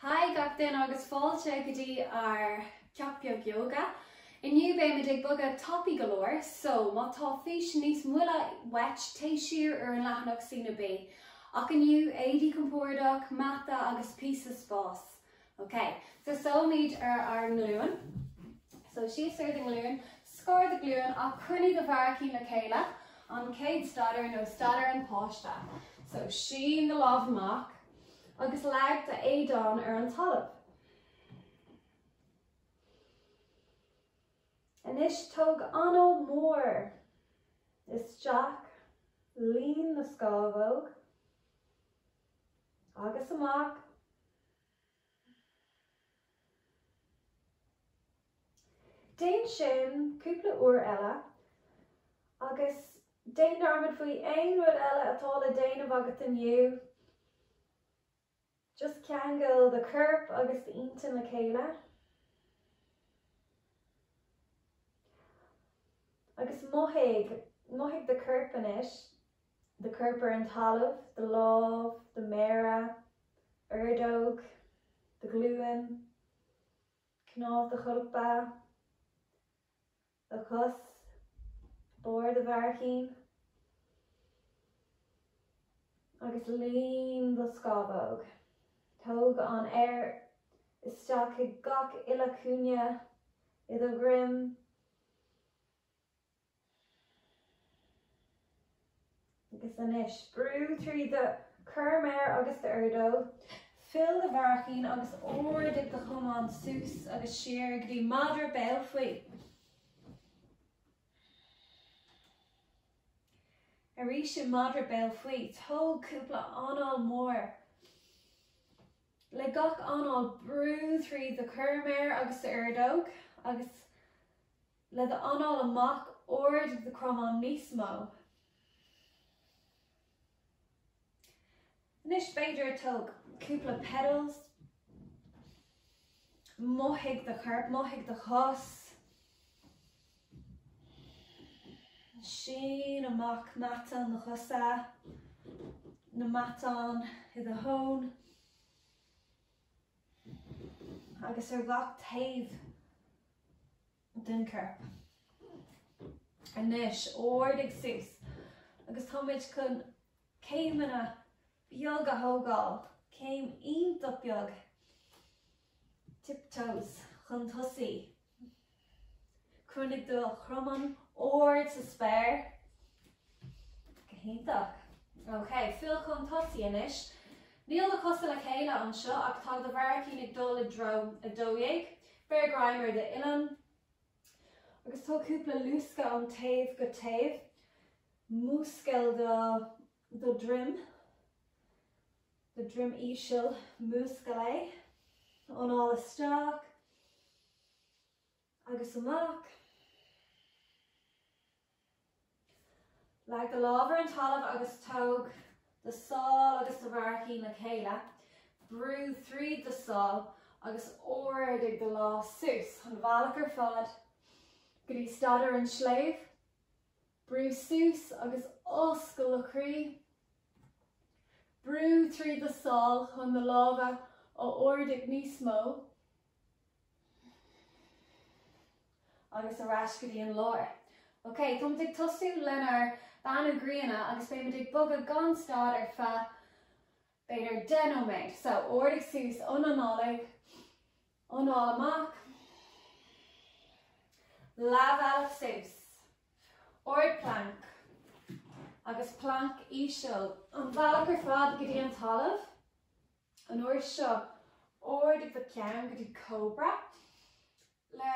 Haigh gach duine agus fáilte go dtí ár gceacht Beag Yoga. Inniu beimid ag bogadh tapaidh go leor, so má tá fís níos moille uait téigh siar ar an leathanach sa Bhí na bí. Ach inniu, éadaí compordach, mata agus píosa spáis. Ok, tosóimid ar ár nglúin. So síos ar do nglúin, scar do ghlúin, ach cruinnigh do bharraicíní le chéile, an chéad staidiúir ná staidiúir an páiste. So sín do lámh amach agus leag do éadán ar an talamh. Anois tóg anáil mór isteach, líon na scámhóg agus amach. Déan sin cúpla uair eile. Agus déan dearmad faoi aon rud eile atá le déanamh agat inniu. Just ceangail do chorp agus d'intinn le chéile. Agus mothaigh, mothaigh do chorp anois. do chorp ar an talamh do lámh do mhéara ordóg do ghlúin cnámh do cholpa do chos barr do bharraicín agus líon do scamhóg tóg an t-aer isteach i ngach uile cúinne i do dhroim Agus anois, brú trí do chorrmhéar agus d'ordóg, fill do bharraicín agus ardaigh do chromán suas agus siar go dtí madra béal faoi. Arís i madra béal faoi, tóg cúpla anáil mhór. Le gach anáil, brú trí do chorrmhéar agus d'ordóg agus. le do anáil amach ardaigh do chromán níos mó Anois, b'fhéidir, tóg cúpla pedals mothaigh do chorp, mothaigh do chos sín amach matáin na cosa na matáin i do thóin agus ar gach taobh den chorp. Anois, ardaigh suas, agus táimid chun céimeanna beaga a thógáil, céim iontach beag, tiptoes, chun tosaigh. Coinnigh do chromáin ard sa spéir. Go hiontach. Ok, fill chun tosaigh anois. Níl do chosa le chéile anseo ach tá do bharraicín ag dul i dtreo 12. Beir greim ar d'uillinn agus tóg cúpla luascadh ón taobh go taobh. Múscail do do dhroim, do dhroim íseal, múscail é, anáil isteach agus amach. Leag do lámh ar an talamh agus tóg do sál agus do bharraicín le chéile, brú tríd do sál agus ardaigh do lámh suas an bealach ar fad go dtí staidiúir an tsléibh. Brú suas agus oscail do chroí. Brú tríd do sál chun na lámha a ardaigh níos mó agus ar ais go dtí an lár. Ok, táimid ag tosú lenár Beannú Grianna agus beimid ag bogadh gan stad ar feadh b'fhéidir deich nóiméad, so ardaigh suas ionanálaigh, anáil amach, leathbhealach suas, ard planc agus planc íseal an bhealach ar fad go dtí an talamh, an uair seo ardaigh do cheann go dtí cobra le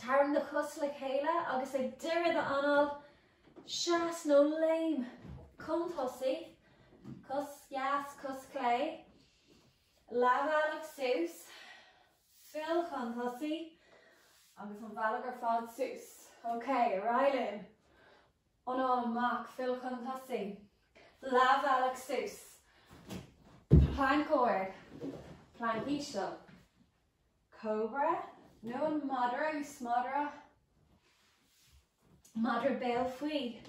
Tarraing do chos le chéile agus ag deireadh d'anáil, seas nó léim chun tosaigh, cos dheas, cos chlé, leathbhealach suas, fill chun tosaigh agus an bealach ar fad suas. Ok, ar aghaidh linn. Anáil amach, fill chun tosaigh, leathbhealach suas, planc ard, planc íseal. Cobra, nó an madra, is madra, madra béal faoi,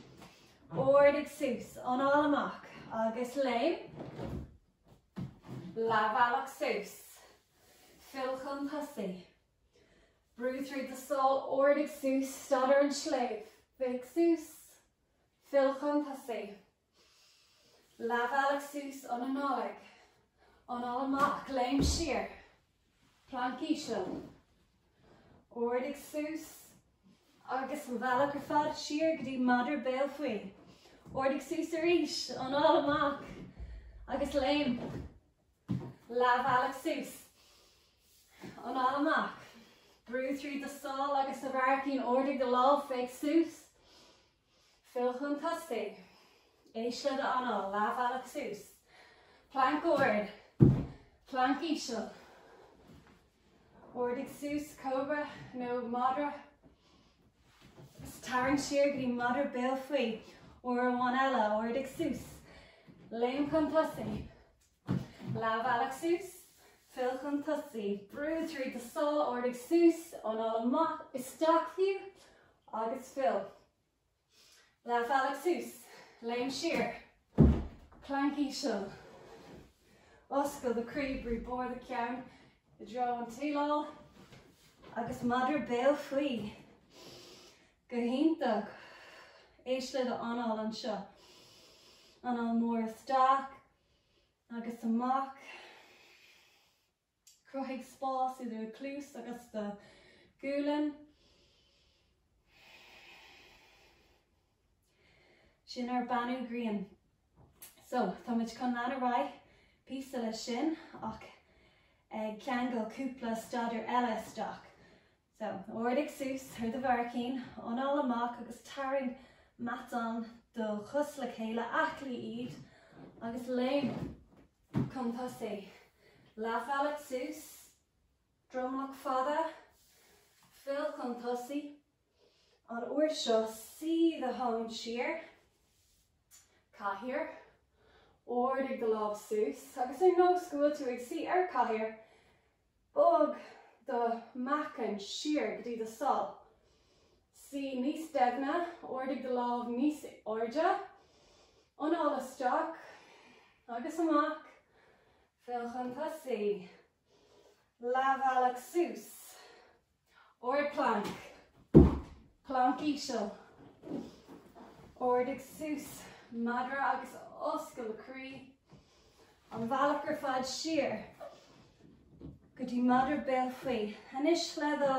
ardaigh suas, anáil amach, agus léim, leathbhealach suas, fill chun tosaigh, brú tríd do sál, ardaigh suas, staidiúir an tsléibh, féach suas, fill chun tosaigh. Leathbhealach suas, ionanálaigh, anáil amach, léim siar, planc íseal, ardaigh suas agus an bealach ar fad siar go dtí madra béal faoi. Ardaigh suas arís, anáil amach agus léim. Leathbhealach suas, anáil amach, brú tríd do sál agus do bharraicín, ardaigh do lámh, féach suas. Fill chun tosaigh. Éist le do anáil. Leathbhealach suas. Planc ard. Planc íseal. Ardaigh suas cobra nó madra. Tarraing siar go dtí madra béal faoi. Uair amháin eile, ardaigh suas. Léim chun tosaigh. Leath bealach suas, fill chun tosaigh, brú tríd na sála ardaigh suas, anáil amach, isteach arú, agus fill. Leath bealach suas, léim siar, plank íseal. Oscail do croí, brú barr do cheann i dtreo an tsíleáil agus madra béal faoi. Go hiontach! Éist le do anáil anseo. Anáil mór isteach, agus amach. Cruthaigh spás idir do chluas agus do ghualainn. Sin ar beannú grian. So, tá muid chun lean ar aghaidh píosa le sin ach ag ceangal cúpla staidiúir eile isteach. So, ardaigh suas ar do bharraicín, anáil amach agus tarraing matán do chos le chéile, aclaigh iad, agus léim chun tosaigh. Leathbhealach suas, dromlach fada, fill chun tosaigh, an uair seo suigh do thóin siar, cathaoir, ardaigh do lámh suas agus ar nós go bhfuil tú ag suí ar chathaoir, Bog do mheáchan siar go dtí do sál. Suí níos doimhne, ardaigh do lámh níos airde. Anáil isteach agus amach, fill chun tosaigh. Leathbhealach suas. Ard planc. Planc íseal. Ardaigh suas madra agus oscail croí an bhealach ar fad siar go dtí madra béal faoi. Anois le do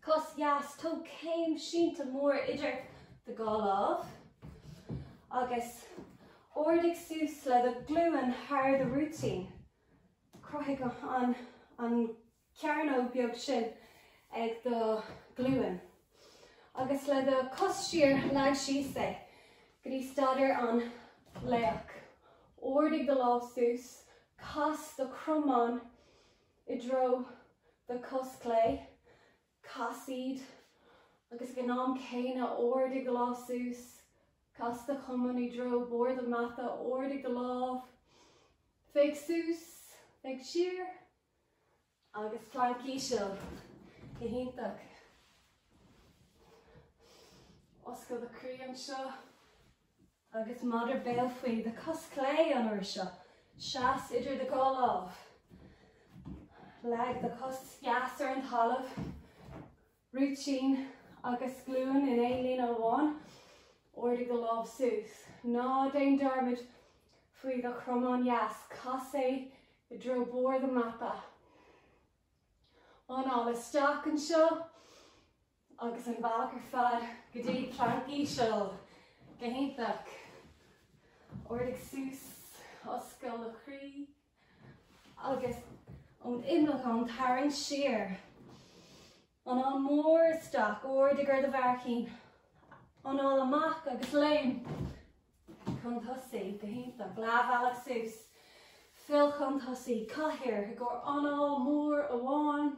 cos dheas tóg céim sínte mór idir do dhá lámh agus ardaigh suas le do glúin thar do rúitín. Cruthaigh an cearnóg beag sin ag do ghlúin agus le do cos thiar leag síos é go dtí staidiúir an laoch. Ardaigh do lámh suas, cas do chromán i dtreo do chos clé, cas iad agus ag an am céanna ardaigh do lámh suas, cas do chromán i dtreo barr do mata, ardaigh do lámh, féach suas, féach siar, Agus planc íseal. Go hiontach. Oscail do chroí anseo. Agus madra béal faoi, do chos chlé an uair seo. Seas idir do dhá lámh. Leag do chos dheas ar an talamh. rúitín agus glúin in aon líne amháin, ardaigh do lámh suas. Ná déan dearmad faoi do chromán dheas, cas é i dtreo barr do mhata. Anáil isteach anseo agus an bhealach ar fad go dtí an planc íseal. Go hiontach. Ardaigh suas, oscail do chroí. agus ón imleacán tarraing siar, anáil mór isteach, ardaigh ar do bharraicíní, anáil amach agus léim chun tosaigh, go hiontach, leathbhealach suas, fill chun tosaigh, cathaoir i gcomhair anáil mhór amháin,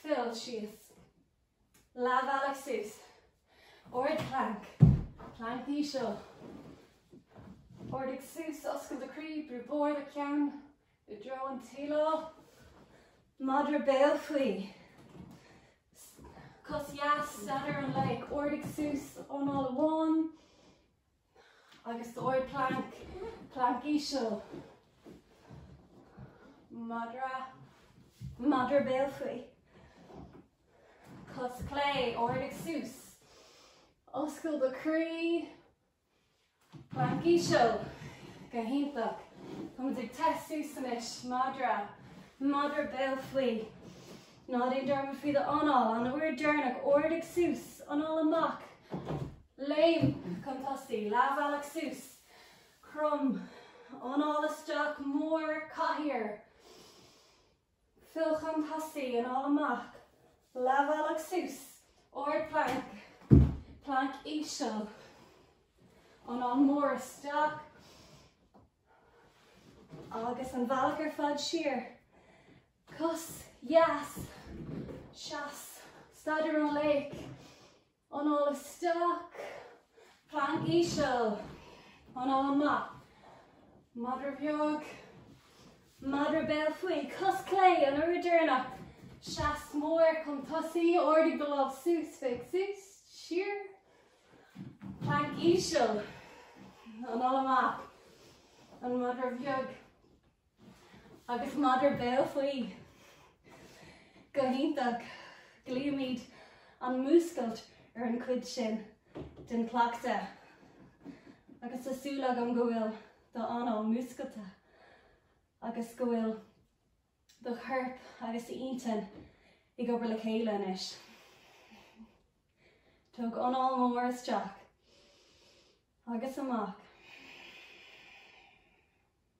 fill síos. Leathbhealach suas, ardphlanc, planc íseal. Ardaigh suas, oscail do chroí, brú barr do cheann i dtreo an tsíleáil. Madra béal faoi. Cos dheas, staidéar an laoich, ardaigh suas, anáil amháin. Agus go hardphlanc, planc íseal, madra, madra béal faoi, cos clé, ardaigh suas, oscail do chroí, planc íseal, go hiontach, táimid ag téamh suas anois, madra, madra béal faoi. Ná déan dearmad faoi do anáil, an uair dheireanach, ardaigh suas, anáil amach, léim chun tosaigh, leathbhealach suas, crom, anáil isteach, mór, cathaoir, fill chun tosaigh, anáil amach, leathbhealach suas, ardphlanc, planc íseal, anáil mór isteach agus an bhealach ar fad siar, Cos, dheas, seas, staidéar an laoich, anáil isteach, planc íseal, anáil amach, madra bheag, madra béal faoi, cos clé, an uair dheireanach, seas mór, chun tosaigh, ardaigh do lámh suas, féach suas, siar, planc íseal, anáil amach, an madra bheag, Agus madra béal faoi, go hiontach, glaoimid an múscailt ar an chuid sin den chleachtadh. Agus tá súil agam go bhfuil do anáil múscailte agus go bhfuil do chorp agus do intinn ag obair le chéile anois. Tóg anáil mór isteach agus amach.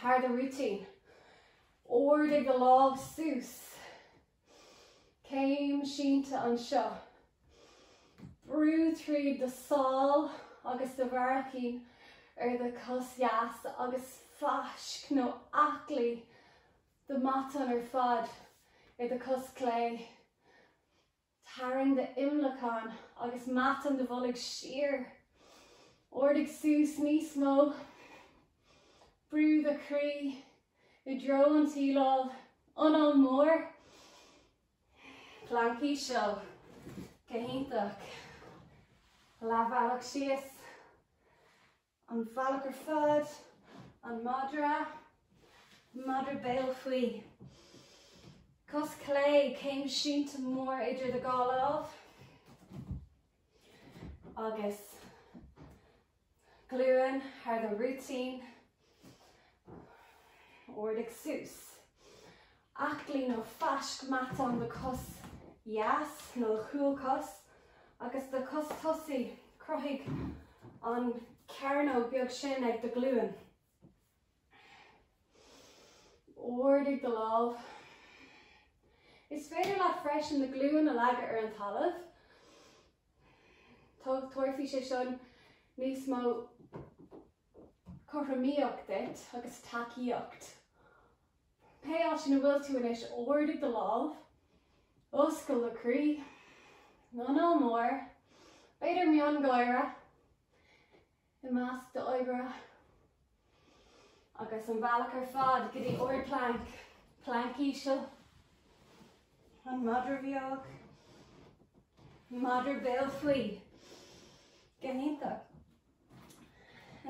Thar do rúitín. Ardaigh do lámh suas. Céim sínte anseo. Brú tríd do sál agus do bharraicín ar do chos dheas agus faisc nó aclaigh do matán ar fad ar do chos clé. Tarraing d'imleacán agus matán do bhoilg siar. Ardaigh suas níos mó. Brú do chroí i dtreo an tsíleáil. Anáil mór. Planc íseal. Go hiontach. Leathbhealach síos. An bealach ar fad, an madra, madra béal faoi. Cos chlé, céim sínte mhór idir do dhá lámh. Agus glúin thar do rúitín. Ardaigh suas. Aclaigh nó fáisc matán do chos dheas nó do chúl cos agus do chos tosaigh. Cruthaigh an chearnóg beag sin ag do ghlúin. Ardaigh do lámh. Is féidir leat freisin do ghlúin a leagadh ar an talamh. Tabharfaidh sé sin níos mó. cothromaíocht duit agus tacaíocht. Pé áit ina bhfuil tú anois, ardaigh do lámh, oscail do chroí, anáil mór, b'fhéidir miongháire i measc d'oibre agus an bealach ar fad go dtí ard planc, planc íseal, an madra bheag, madra béal faoi, go hiontach.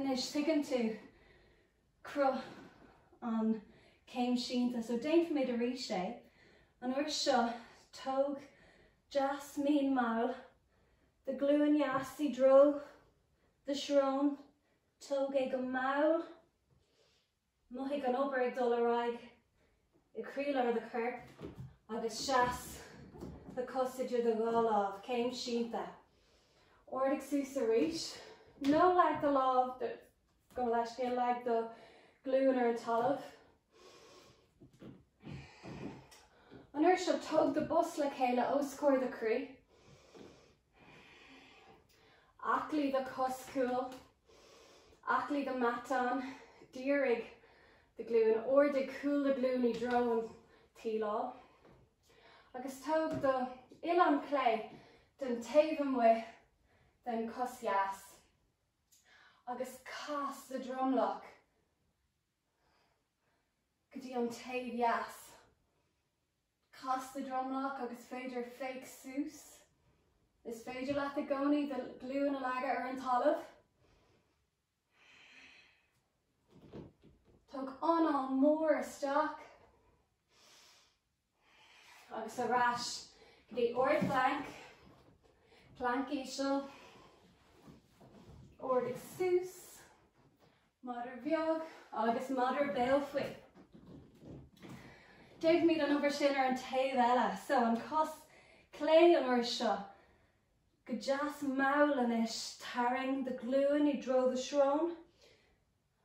Anois, tuigeann tú cruth an céim sínte, so déanfaimid arís é. An uair seo, tóg deas mín mall do glúin dheas i dtreo do srón, tóg é go mall, Mothaigh an obair ag dul ar aghaidh i gcroílár do choirp agus seas do chos idir do dhá lámh, céim sínte. Ardaigh suas arís. Nó leag do lámh gabh mo leithscéal, leag do ghlúin ar an talamh. An uair seo tóg do bhos le chéile os comhair do chroí. Aclaigh do chos cúil, aclaigh do mhatán, dírigh do ghlúin, ardaigh cúl do ghlúin i dtreo an tsíleáil agus tóg do uillinn chlé den taobh amuigh den chos dheas agus cas do dhromlach go dtí an taobh dheas. Cas do dhromlach agus féidir féach suas. Is féidir leat i gcónaí do ghlúin a leagadh ar an talamh. Tóg anáil mór isteach agus ar ais go dtí ard plank, plank íseal, ardaigh suas, Madra bheag agus madra béal faoi. Déanfaimid an obair sin ar an taobh eile so, an cos clé an uair seo, go deas mall anois, tarraing do ghlúin i dtreo do shrón,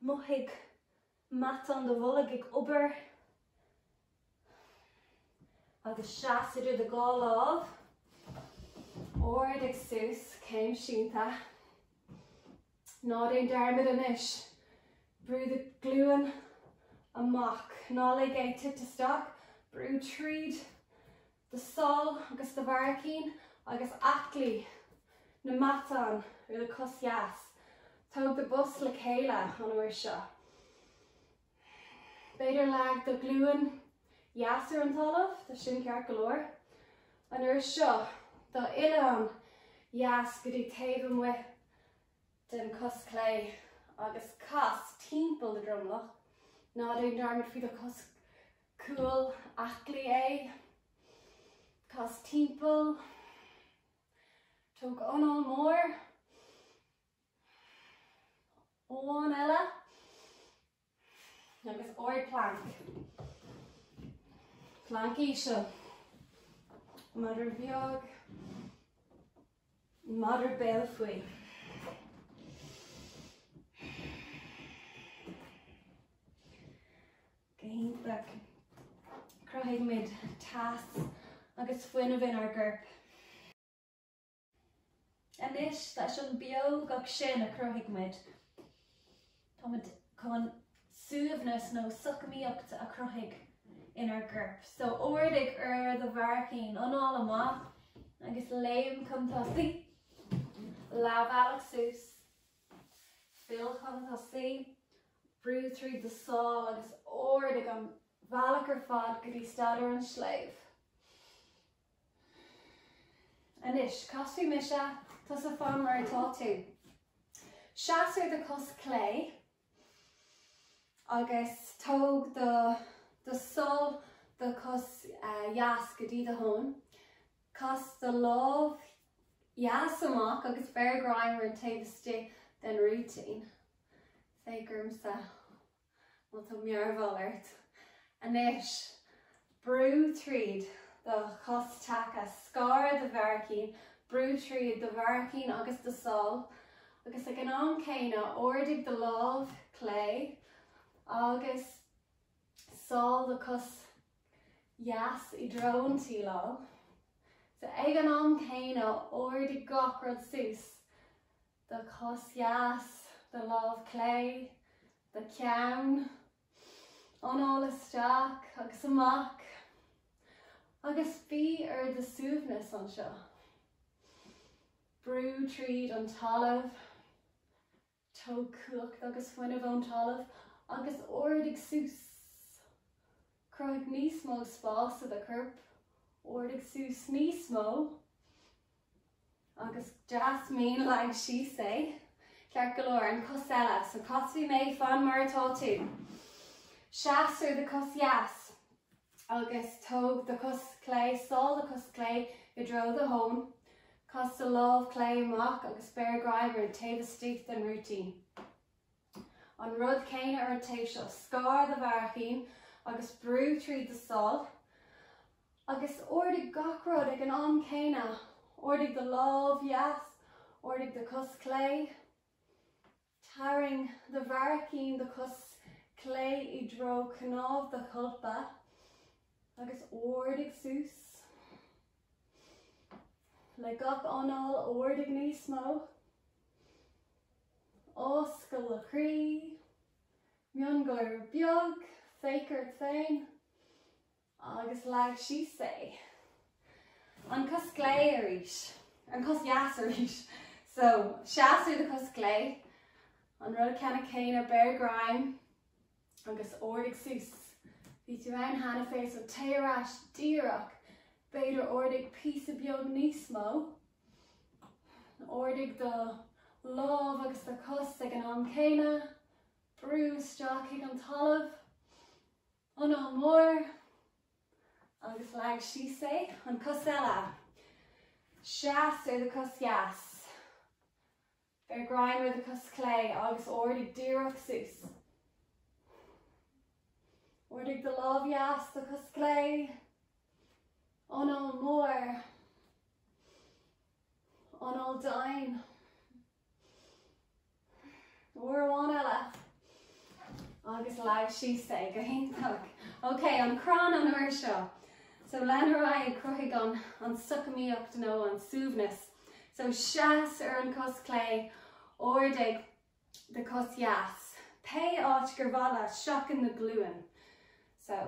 mothaigh matán do bhoilg ag obair, Agus seas idir do dhá lámh, ardaigh suas, céim sínte. Ná déan dearmad anois, brú do ghlúin amach, ná lig é titim isteach, brú tríd do sál agus do bharraicín agus aclaigh na matáin ar do chos dheas. Tóg do bhos le chéile an uair seo. B'fhéidir leag do ghlúin dheas ar an talamh, tá sin ceart go leor. An uair seo, do uillinn dheas go dtí taobh amuigh den cos clé agus cas timpeall do dhromlach, ná déan dearmad faoi do chos cúil, aclaigh é, cas timpeall, tóg anáil mór. Amháin eile agus ard plank. Plank íseal. Madra bheag. Madra béal faoi. Go hiontach. Cruthaimid teas agus fuinneamh inár gcorp. Anois, leis an bpióg sin a chruthaigh muid, táimid chun suaimhneas nó socmaíocht a chruthú inár gcorp. So ardaigh ar do bharraicín, anáil amach agus léim chun tosaí. Leathbhealach suas, fill chun tosaí, brú tríd do sháil agus ardaigh an bhealach ar fad go dtí staidiúir an tsléibhe. Anois, casfaidh mise, tusa fan mar atá tú. Seas ar do chos chlé agus tóg do, do sháil do chos uh, dheas go dtí do thóin. Cas do lámh dheas amach agus beir greim ar an taobh istigh den rúitín. Féach ormsa Má tá mearbhall ort anois, brú tríd do chos taca, scar do bharraicín, brú tríd do bharraicín agus do sháil, agus ag an am céanna, ardaigh do lámh chlé agus sáil do chos dheas i dtreo an tsíleáil. So ag an am céanna, ardaigh gach rud suas. do chos dheas, do lámh chlé, do cheann, anáil isteach agus amach agus bí ar do suaimhneas anseo. Brú tríd an talamh, tóg cumhacht agus fuinneamh ón talamh agus ardaigh suas. Cruthaigh níos mó spás i do chorp, ardaigh suas níos mó agus. Deas mín, leag síos é. Ceart go leor, an cos eile. So casfaidh mé, fan mar atá tú. Seas ar do chos dheas agus tóg do chos chlé, sáil do chos chlé i dtreo do thóin. Cas do lámh chlé amach agus beir greim ar an taobh istigh den rúitín. An rud céanna ar an taobh seo, scar do bharraicín agus brú tríd do sháil agus ardaigh gach rud ag an am céanna. Ardaigh do lámh dheas, ardaigh do chos chlé, tarraing do bharraicín, do chos chlé i dtreo cnámh do cholpa agus ardaigh suas. Le gach anáil, ardaigh níos mó. Oscail an croí. Miongháire beag, féach ort féin agus leag síos é. An cos chlé arís. An cos dheas arís. So, seas ar do chos chlé. An rud ceannann céanna, beir greim. Agus ardaigh suas. Bhí tú ann cheana féin so téigh ar ais díreach. B'fhéidir ardaigh píosa beag níos mó. Ardaigh do lámh agus do chos ag an am céanna. Brú isteach chuig an talamh. Anáil mór. Agus leag síos é an chos eile. Seas ar do chos dheas. Beir greim ar do chos clé agus ardaigh díreach suas. Ardaigh do lámh dheas do chos chlé. Anáil mór. Anáil domhain. Uair amháin eile. Agus leag síos é go hiontach. Ok, an crann an uair seo. So, lean ar aghaidh, cruthaigh an socamaíocht nó an suaimhneas. So seas ar an gcos chlé, ardaigh do chos dheas, pé áit gur mhaith leat, seachain na glúine. So,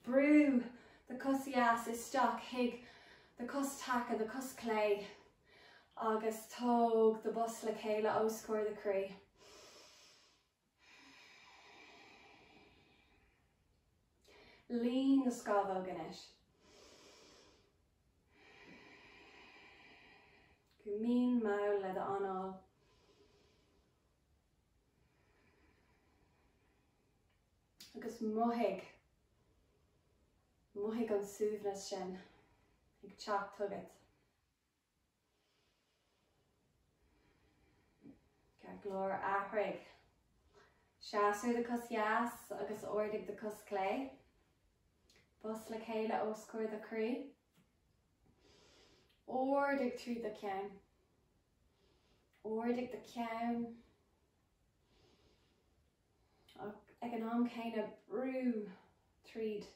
brú do chos dheas isteach chuig do chos taca, do chos chlé, agus tóg do bhos le chéile os comhair do chroí. Líon do scamhóg anois. Go mín mall le d'anáil. Agus mothaigh, mothaigh an suaimhneas sin ag teacht chugat. Ceart go leor, athraigh seas ar do chos dheas agus ardaigh do chos chlé. Bos le chéile os comhair do chroí. Ardaigh trí do cheann. Ardaigh do cheann. Ag an am céanna brú tríd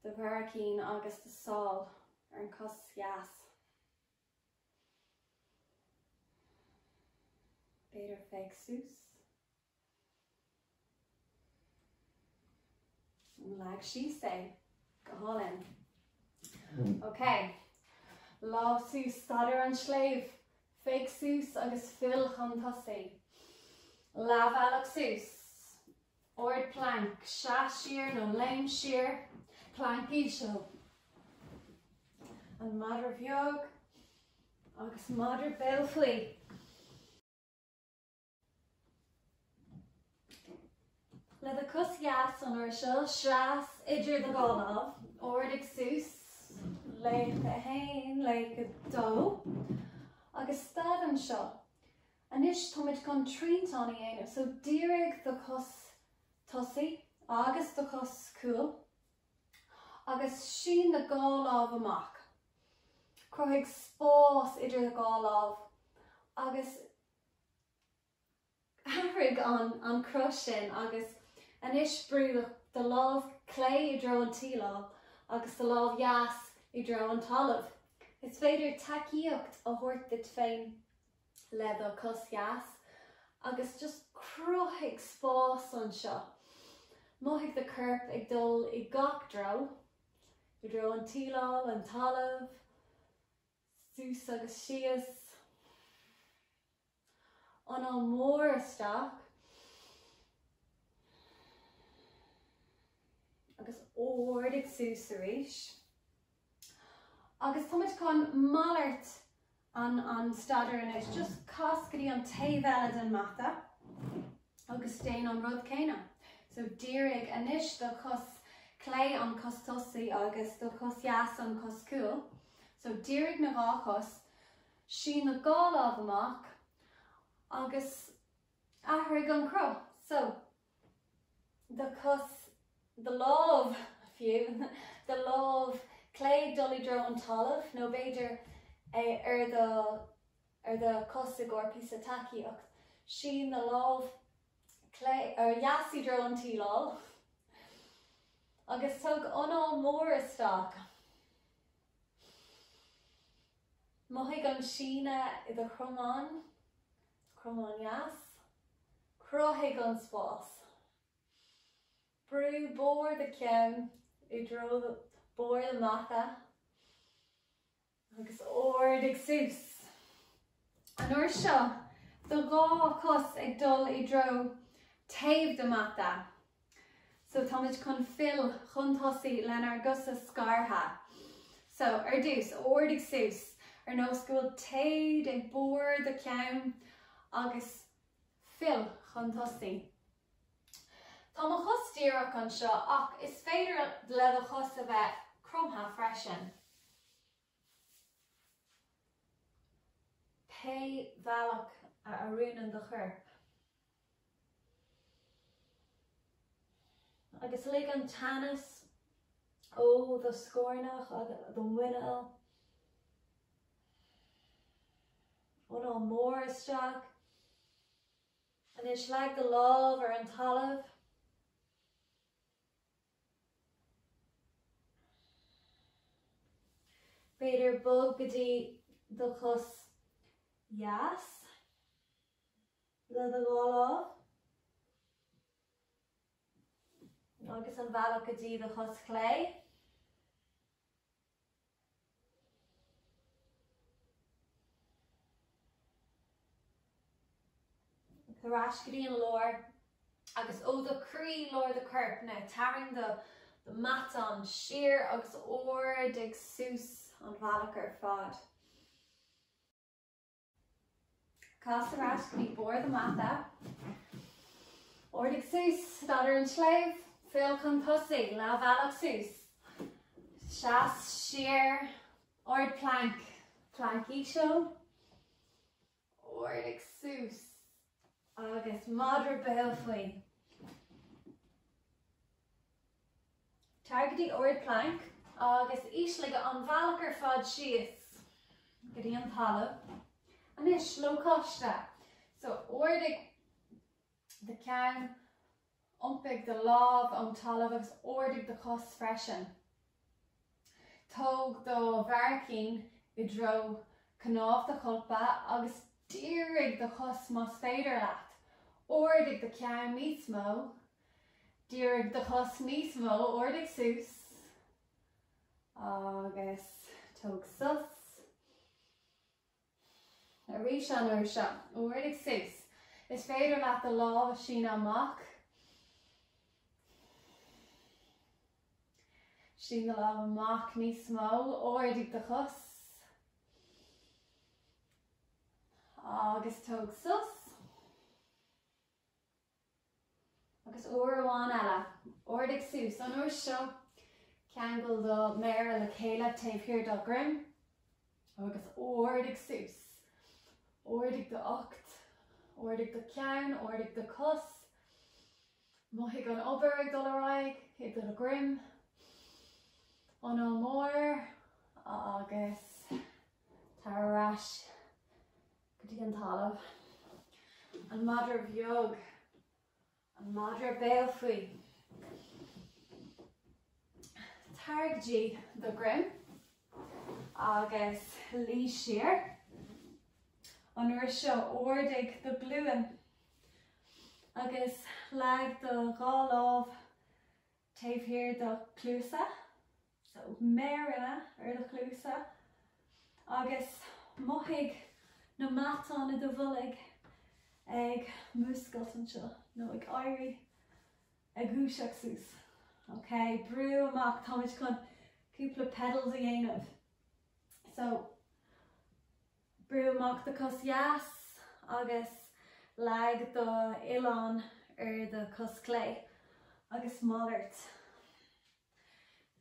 do bharraicín agus do sháil. ar an gcos dheas. B'fhéidir féach suas an leag síos é go hálainn. Ok, lámha suas staidiúir an tsléibhe, féach suas agus fill chun tosaí. Leath bealach suas. Ard planc, seas siar nó léim siar. Planc íseal. An madra beag agus madra béal faoi. Le do chos dheas an uair seo, seas idir do dhá lámh, ardaigh suas, léim a haon, léim a dó, agus stad anseo. Anois táimid chun triantán a dhéanamh, so dírigh do chos tosaigh agus do chos cúil agus sín na dhá lámh amach. Cruthaigh spás idir do dhá lámh agus athraigh an cruth sin agus anois brú do lámh chlé i dtreo an tsíleáil agus do lámh dheas i dtreo an talaimh. Is féidir tacaíocht a thabhairt duit féin. le do cos dheas agus just cruthaigh spás anseo. Mothaigh do chorp ag dul i gach dtreo, i dtreo an tsíleáil, an talamh, suas agus síos. Anáil mór isteach agus ardaigh suas arís. Agus tá muid chun malairt an staidéir anois, just cas go dtí an taobh eile den mata agus déan an rud céanna. So dírigh anois do chos clé an cos tosaí agus do chos dheas an cos cúil. So dírigh na dhá chos, sín na dhá lámh amach agus athraigh an cruth. So do chos, do lámh fiú, do lámh chlé dul i dtreo an talaimh, nó b'fhéidir ar do, ar do chos i gcomhair píosa tacaíocht, sín do lámh chlé, ó, dheas i dtreo an tsíleáil agus tóg anáil mhór isteach. Mothaigh an síneadh i do chromán, cromáin dheas. Cruthaigh an spás. Brú barr do cheann i dtreo barr do mhata agus ardaigh suas. An uair seo, do dhá cos ag dul i dtreo taobh do mhata. So táimid chun fill chun tosaigh lenár gcosa scartha. So, ar dtús, ardaigh suas, ar nós go bhfuil téad ag barr do cheann agus fill chun tosaigh. Tá mo chos díreach anseo ach is féidir le do chos a bheith cromtha freisin. Pé bhealach a oiriúnann do chorp. Agus lig an teannas ó do scornach agus do mhuineál, anáil mór isteach. Anois leag do lámh ar an talamh. B'fhéidir bog go dtí do chos dheis le do dhá lámh. Agus an bhealach go dtí do chos chlé. Tar ar ais go dtí an lár, agus ó do chroí, lár do choirp, now tarraing do mheatán siar agus ardaigh suas an bhealach ar fad. Cas ar ais go dtí barr an mhata. Ardaigh suas, staidiúir an tsléibhe, fill chun tosaigh, leath bhealach suas. Seas siar, ard planc, planc íseal. Ardaigh suas. Agus madra béal faoi. Tar go dtí ard planc agus ísligh an bhealach ar fad síos go dtí an talamh. Anois, lócaiste. So, ardaigh do cheann. Iompair do lámh ón talamh agus ardaigh do chos freisin. Tóg do bharraicín i dtreo cnámh do cholpa agus dírigh do chos más féidir leat. Ardaigh do cheann níos mó. Dírigh do chos níos mó. Ardaigh suas agus tóg sos. Arís an uair seo, ardaigh suas, is féidir leat do lámh a shíneadh amach. Sín do lámh amach níos mó, ardaigh do chos. Agus tóg sos. Agus uair amháin eile, ardaigh suas, an uair seo, ceangail do mhéara le chéile taobh thiar do do dhroim agus ardaigh suas. Ardaigh d'ucht, ardaigh do cheann, ardaigh do chos. Mothaigh an obair ag dul ar aghaidh i do dhroim. Anáil mór agus tar ar ais. Go dtí an talamh. An madra beag. An madra béal faoi. Tar go dtí do dhroim agus luí siar. An uair seo ardaigh do ghlúin agus leag do dhá lámh taobh thiar do chluasa, so méireanna ar do chluasa, agus mothaigh na matáin i do bholg ag múscailt anseo, nó ag éirí, ag dúiseacht suas. Ok, brú amach, táimid chun cúpla pedals a dhéanamh. So. Brú amach do cos dheas agus leag do uillinn ar do cos clé agus malairt.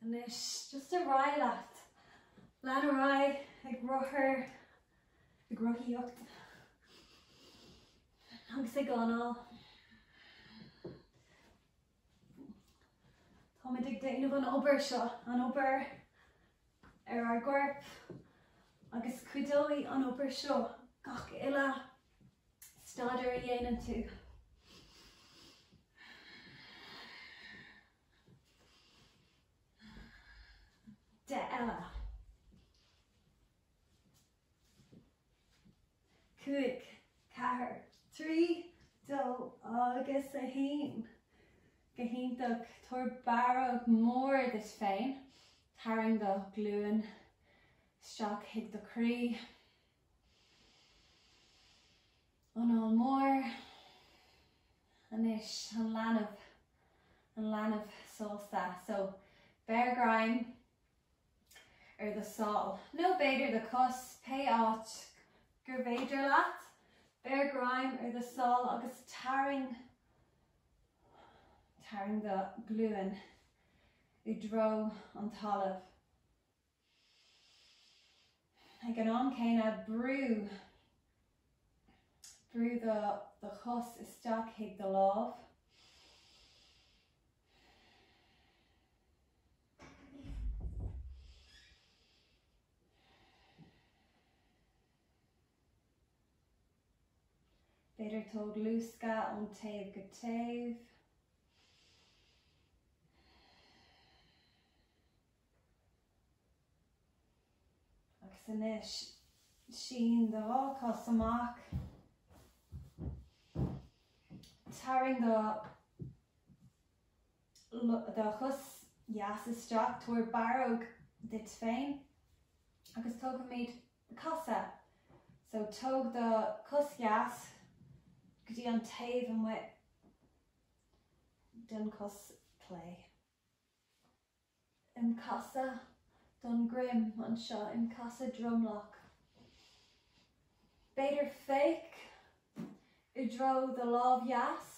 Anois, just ar aghaidh leat. Lean ar aghaidh ag rothar, ag rothaíocht agus ag anáil. Táimid ag déanamh an obair seo, an obair ar ár gcorp, agus cuideoidh an obair seo gach uile staidéar a dhéanann tú. De eile. Cúig, ceathair, trí, dó agus a haon. Go hiontach. Tabhair barróg mhór duit féin. Tarraing do ghlúin isteach chuig do chroí. Anáil mhór. Anois, an leanbh. An leanbh sásta. So, beir greim. ar do shál, nó b'fhéidir do chos, pé áit gurbh fhéidir leat, beir greim ar do shál agus tarraing, tarraing do ghlúin i dtreo an talaimh. Ag an am céanna, brú, brú do chos isteach chuig do lámh. B'fhéidir tóg luascadh ón taobh go taobh. Agus anois, sín do dhá cos amach. Tarraing do chos dheas isteach, tabhair barróg duit féin agus tógfaimid casadh. So tóg do cos dheas go dtí an taobh amuigh den cos clé. im casadh don droim anseo im casadh dromlach b'fhéidir féach i dtreo do lámh dheas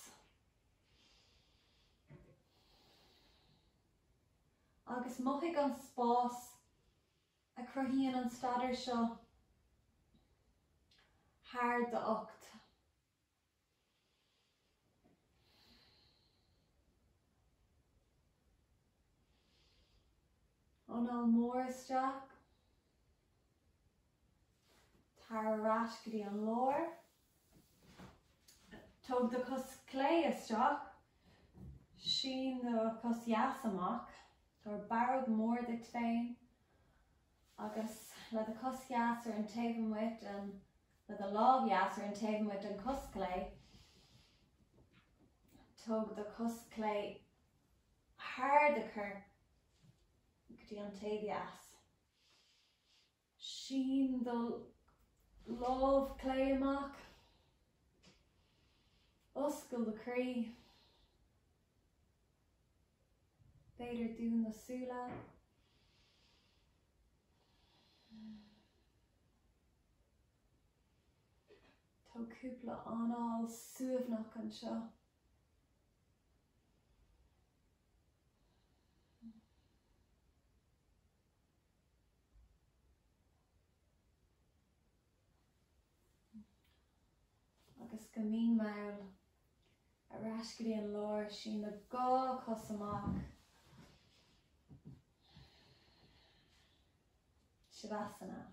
agus mothaigh an spás a chruthaíonn an staidiúir seo thar d'ucht. Anáil mhór isteach, tar ar ais go dtí an lár. Tóg do chos chlé isteach, sín do chos dheas amach, tabhair barróg mhór duit féin Agus le do chos dheas ar an taobh amuigh den, le do lámh dheas ar an taobh amuigh den chos chlé, tóg do chos chlé thar do chorp go dtí an taobh dheas. Sín do lámh chlé amach. Oscail do chroí. B'fhéidir dún na súile. Tóg cúpla anáil suaimhneach anseo. agus go mín mall, ar ais go dtí an lár, sín do dhá chos amach, Shavasana.